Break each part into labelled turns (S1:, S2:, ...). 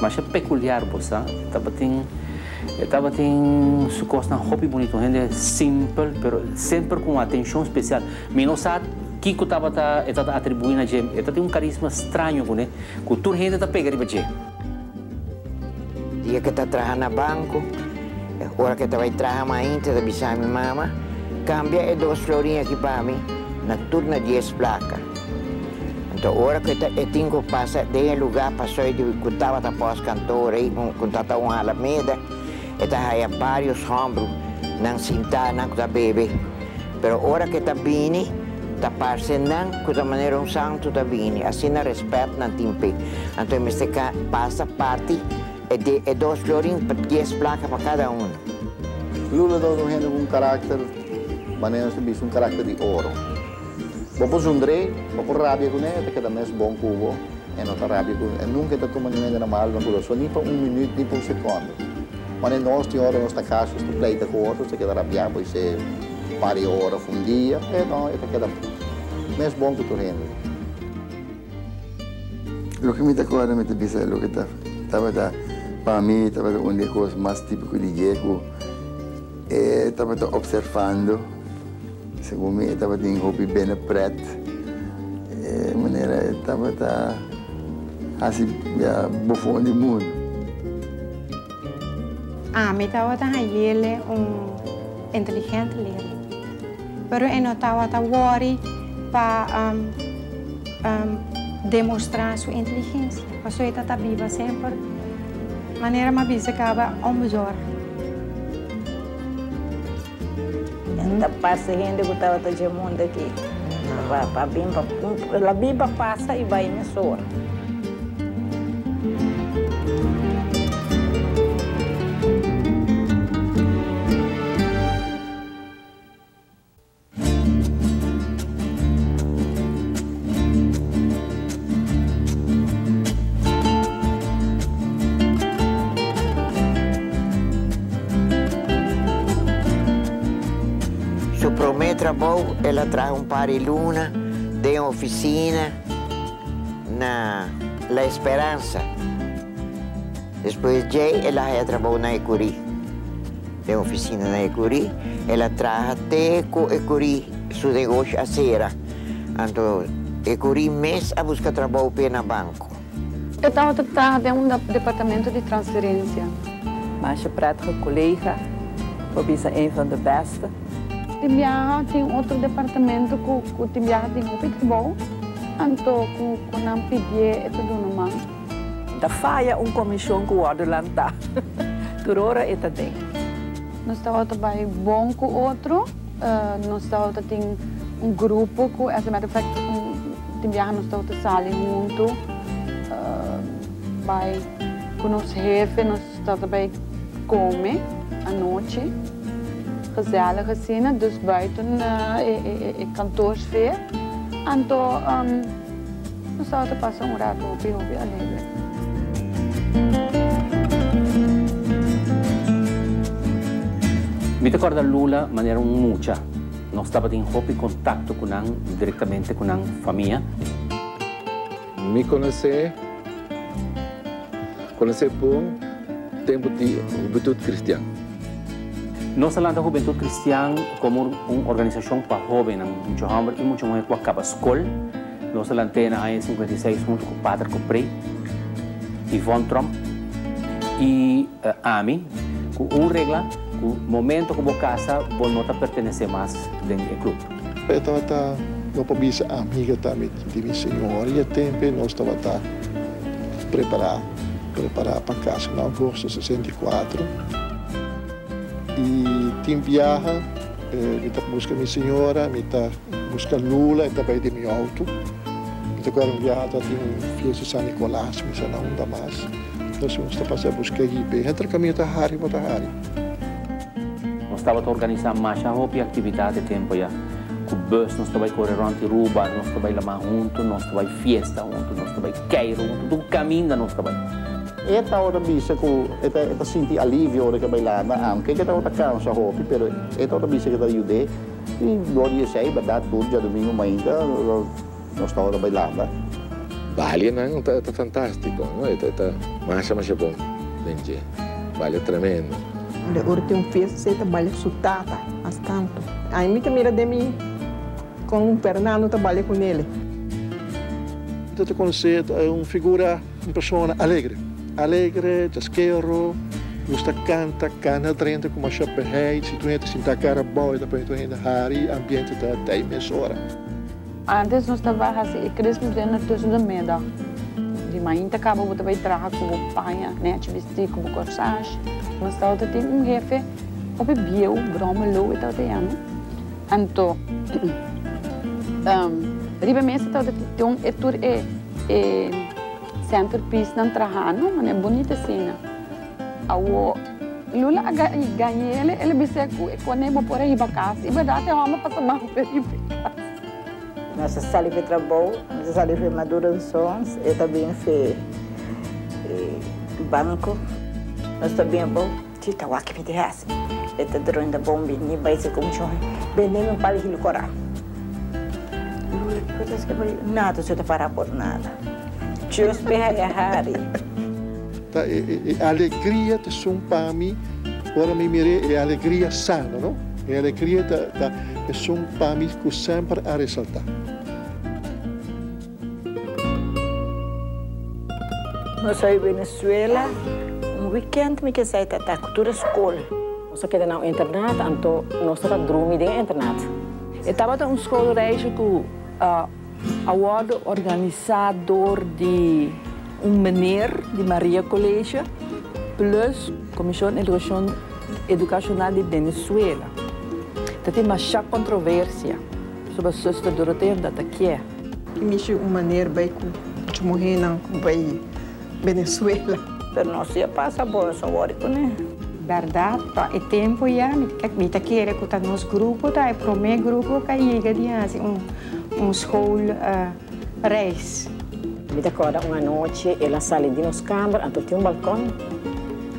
S1: Masha peculiar bo sa. E tabatin e tabatin su cosnan hopi bonito. Un hende simpel pero semper cu un atencion special. Mi no sa kico tabata e ta ta atribui na dje. E ta tin un carisma straño cune cu tur hende ta pega riba dje. Dia ke ta traha na banco. E ora ke ta bai traha mas ainta ta bisa mi mama, Cambia e dos florin aki pa mi na tur na dies placa. Nto ora ku e tinku pasa den e lugá pasoy di ku tabata pos kantó rei un ku ta ta un alameda, e ta haya barios hombru nan sintá, nan ku ta bebe. Pero ora ku e ta bini, ta parse nan ku ta manera un santu ta bini, asina rèspèt nan tin p'e. Anto e mester pasa parti e de e dos florin, dies plaka pa kada unu. Lula ta un hende ku un karakter, manera nos ta bisa, un karakter di oro. Bo por zun drei, bo por rabia cu ne, e ta keda mes bon cu bo, e no ta rabia cu, e nunca e ta tuma ningun hende mal na cu lo, so ni pa un minuut ni pa un secondo. Wanneer nos tin ora nos ta casa, nos ta pleita cu otro, nos ta keda rabia bo isee un par di ora of un dia, e no, e ta keda mes bon cu tur hende. Loke mi ta corda mi ta bisa loke ta tabata pa mi tabata un di e cos mas tipico di dje cu e tabata observando. Segun mi e tabatin hopi bene prèt e manera e tabata hasi bia bofon di mundu. Ami tabata hayele un inteligente leren, pero e no tabata wòri pa demostrá su inteligensia, pasobra e ta ta biba semper manera mi a bisa caba o midjor. Nan ta pasa hende ku tabata dje mundu aki pa bin pa el a bin pa pasa i bai mes ora. Su prome trabou el a traha un par di luna den e ofisina na La Esperansa. Despues djei el a haña trabou na Ecurí. Den e ofisina na Ecurí el a traha te ku Ecurí su negoshi a sera. Anto e kuri mes a buska trabou p'e na banko. E tabata traha den un departamento di transferensia. Masha prètige kolega, pa bisa een van de bèste. Tin biaha tin otro departamento ku ku tin biaha tin hopi trabou, anto ku ku nan pidié e ta duna man. Ta faya un komishon ku wòrdu lantá. Tur ora e ta den. Nos tabata bai bon ku otro, Nos tabata tin un grupo ku, as a matter of fact, tin biaha nos tabata sali huntu bai ku nos hefe, nos tabata bai kome anochi, gezèlig asina, dus buiten e kantoor sfeer. Anto. Nos tawata ta pasa un rato hopi hopi alegre. Mi ta kòrda Lula manera un mucha. Nos tabatin hopi kontakto ku nan, direktamente ku nan famia. Mi konos'é. Konosé bon tempu di Hubentut Kristian. Nos ta lanta Hubentut Kristian komo un organisashon pa hóbennan, mucha hòmber i mucha muhé ku a kaba skol. Nos a lant'é na aña sinkuenta i seis huntu ku Pater Copré, Yvonne Tromp i ami, ku un regla, ku momentu ku bo kasa bo no ta pertenesé mas den e klub. P'esei tabata bo por bisa amiga tambe Di mi señora y e tempe nos tabata prepara prepara pa casa na agosto sesenta y cuatro y tin biaha mi ta busca mi señora mi ta busca Lula e ta bay den mi auto mi ta cual un biaha ta tin un fiesta San Nicolas mi sa na unda mas nos ta pasa busca y biaha entre camino ta hari bo ta hari. Nos tabata organisá masha hopi aktividat e tempu ya. Ku bùs nos ta bai kore rònt di Ruba, nos ta bai la mar huntu, nos ta bai fiesta huntu, nos ta bai Keiro huntu, tur kaminda nos ta bai. E tabata bisa ku e ta e ta sinti alivio ora ku e bai la na am. Ke ku e tabata kansa hopi, pero e tabata bisa ku e ta yud'é. I glória esei, bèrdat, tur djadumingu mainta. Nos ta ora bay lamba. Balia nan ta ta fantastico no e ta masha masha bon den dje balia tremendo. Balia ora tin un fiesta así e ta balia su tata mas tanto ay mi ta mira den mi con Fernando ta balia cu nele. Enta ta conoce un figura un persona alegre alegre chasquero gusta canta cana drenta cu masha behey si tu hende ta sinta cara bao e ta pone tu hende hari ambiente ta tey mesora. Antes nos ta bay haci e crisma tree na tusu de middag. Di mainta caba bo ta bay traha cu bo paña, nechi bisti cu bo corsage. Mas tawata tin un hefe hopi bieu, Brome Louie tawata yama. Anto riba e mesa tawata tin e tur e e centerpiece nan trahando, mane bonita asina. Awo, Lula a gañele, el a bis'é ku e kone bo por a hiba kas. I bèrdat e hòmber pasa mas feyu pa e kas. Nos a sali fe trabou, nos a sali fe madurensons, e ta bin fe banku. Nos ta bin bo, chita wak mi di hasi. E ta drunda bo un bini bai si kumshon, bende mi un pal hil kora. Lula, kiko ta hasikei pa yu? Nada, su ta para por nada. Chus beha e hari. Ta e e alegria ta esun pa mi, ora mi mir'é, e alegria sano, no? E alegria ta ta esun pa mi ku semper a resaltá. Nos a bai Venezuela un wikènt mi ke sai tata ku tur e skol. Nos a keda na un internat anto nos tabata drumi den e internat. E tabata un skol reisje ku. A wòrdu organisá dor di un meneer di Maria College plus Comisión Educación Educacional di Venezuela. Ta tin mashá controversia soba Suster Dorotea, un tabata kiè. Ki mishi un maneer bai ku muchu muhénan bai. Venezuela. Pero nos di a pasa bon so wori kuné. Berdad pa e tempo ya mi ta kere ku ta nos grupo ta e prome grupo ka yega di hasi un school reis. Mi ta korda un anochi el a sali di nos kamber anto tin un balkon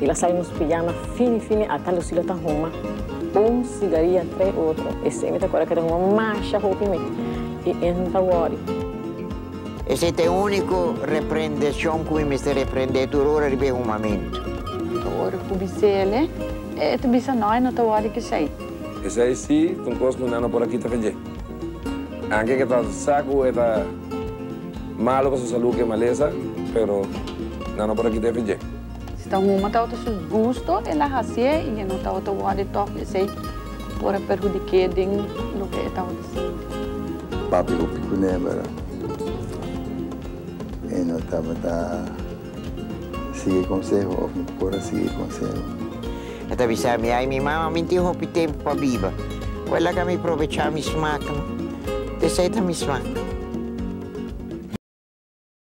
S1: el a sali nos pijama fini fini a ta lusi lo ta huma un sigaria tre otro esei mi ta korda ke ta huma masha hopi mi i en ta wori. Esei ta e úniko reprendeshon ku mi mester reprendé tur ora riba e humamentu. Tur ora ku bis'é el e, e ta bisa, Nai no ta wòrdi keshai. Esei sí ta un kos ku nan no por a kita fedjé. Anke ke ta sa ku e ta malu pa su salú ku e malesa, pero nan no por a kita e fedjé. Si ta huma tawato su gusto, el a hasié i e no tawato wòrdi tòg. Esei por a perhudik'é den loke e tawato. Papi hopi kunebara e no tabata sigui e konseho of no por a sigui e konseho. E ta bisa mi, Ai mi mama, mi tin hopi tempu pa biba. Bo a laga mi probecha mi smak no. Te sa e ta mi smak.